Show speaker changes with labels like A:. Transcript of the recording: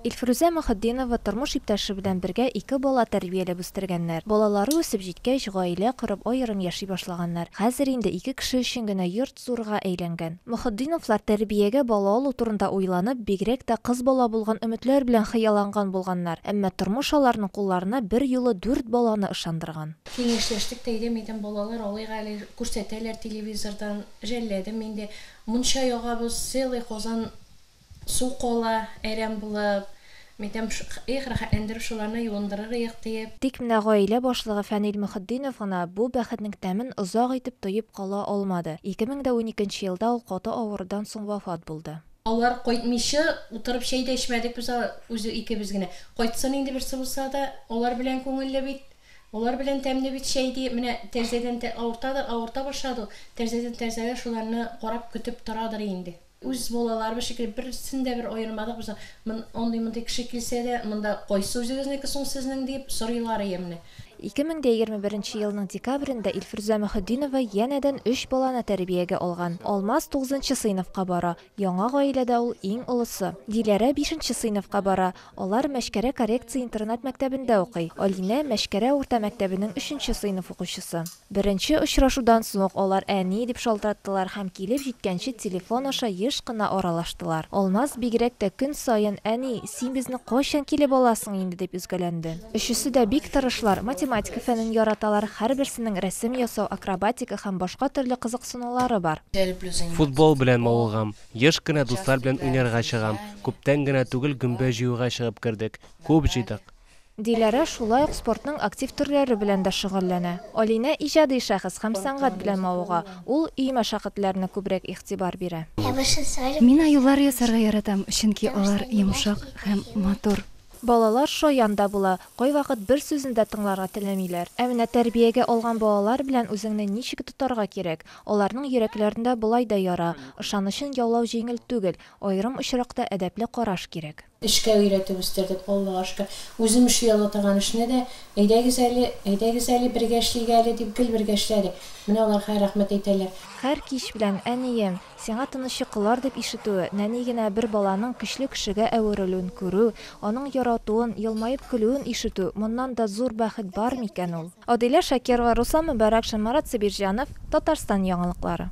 A: Илфрүзә Мөхетдинова тормыш иптәше белән бергә ике бала тәрбияләп үстергәннәр. Балалары үсеп җиткәч, гаилә корып, аерым яши башлаганнар. Хәзер инде ике кеше өчен генә йорт зурга әйләнгән. Мөхетдиновлар тәрбиягә бала алу турында уйланып, бигрәк тә кыз бала булган өметләр белән хыялланган булганнар. Әмма тормыш аларның кулларына берьюлы дүрт баланы ышандырган. Киңәшләштек, тәйдәм
B: идем, балалар алыйк әле, күрсәтәләр телевизордан, жәлләдем инде. Мунча ягабыз, целый казан Су кала, әрәм булып. Мәйтәм, их, рәхәтләндереп шуларны юындырыр иек, диеп. Тик менә гаилә
A: башлыгы Фәнил Мөхетдинов гына бу бәхетнең тәмен озак итеп тоеп кала алмады. 2012 елда ул каты авырудан соң вафат булды. Алар кайтмыйча
B: утырып чәй дә эчмәдек без үзе икебез генә. Кайтсын инде берсе булса да, алар белән күңелле бит, алар белән тәмле бит чәй, диеп, менә тәрзәдән, авыртадыр, авырта башлады ул, тәрзәдән тәрзәгә шуларны карап көтеп торадыр инде. Үз балаларыбыз шикелле, берсен дә бер аермадык без. Мон, андый-мондый кеше килсә дә, монда кайсы үзегезнеке соң сезнең, диеп сорыйлар ие менә. 2021 нче елның декабрендә Илфрүзә Мөхетдинова янәдән өч баланы тәрбиягә алган. Алмаз тугызынчы сыйныфка бара, яңа гаиләдә ул иң олысы. Диләрә бишенче сыйныфка бара, алар Мәчкәрә коррекция интернат-мәктәбендә укый. Алинә, Мәчкәрә урта мәктәбенең өченче сыйныф укучысы. Беренче очрашудан соң алар әни дип шалтыраттылар һәм килеп җиткәнче телефон аша еш кына аралаштылар. Алмаз бигрәк тә көн саен, Әни, син безне кайчан килеп аласың инде? дип өзгәләнде. Өчесе дә бик тырышлар, математика фәнен яраталар, һәрберсенең рәсем ясау, акробатика һәм башка төрле кызыксынулары бар. Футбол белән
C: мавыгам, еш кына дуслар белән уйнарга чыгам, күптән генә түгел гөмбә җыюга чыгып кердек, күп җыйдык. Диләрә
A: шулай ук спортның актив төрләре белән дә шөгыльләнә. Алинә, иҗади шәхес һәм сәнгать белән мавыга. Ул өй мәшәкатьләренә күбрәк игътибар бирә. Мин
D: аюлар ясарга яратам, чөнки алар йомшак һәм матур. Балалар шаян
A: да була, кайвакыт бер сүзне дә тыңларга теләмиләр. Ә менә тәрбиягә алган балалар белән үзеңне ничек тотарга кирәк? Аларның йөрәкләрендә болай да яра, ышанычын яулау җиңел түгел, аерым очракта әдәпле караш кирәк. Эшкә өйрәтеп
B: үстердек, Аллага шөкер. Үзем эшли ала торган эшне дә, Әйдәгез әле, әйдәгез әле, бергә эшлик әле, дип, гел бергә эшләдек. Менә алар хәер рәхмәт әйтәләр. Һәр кич белән,
A: Әнием, сиңа тыныч йокылар, дип ишетү, нәни генә бер баланың көчле кешегә әверелүен күрү, аның яратуын, елмаеп көлүен ишетү, моннан да зур бәхет бар микән ул? Адилә Шакирова, Руслан Мөбарәкшин, Марат Сабирҗанов, Татарстан яңалыклары.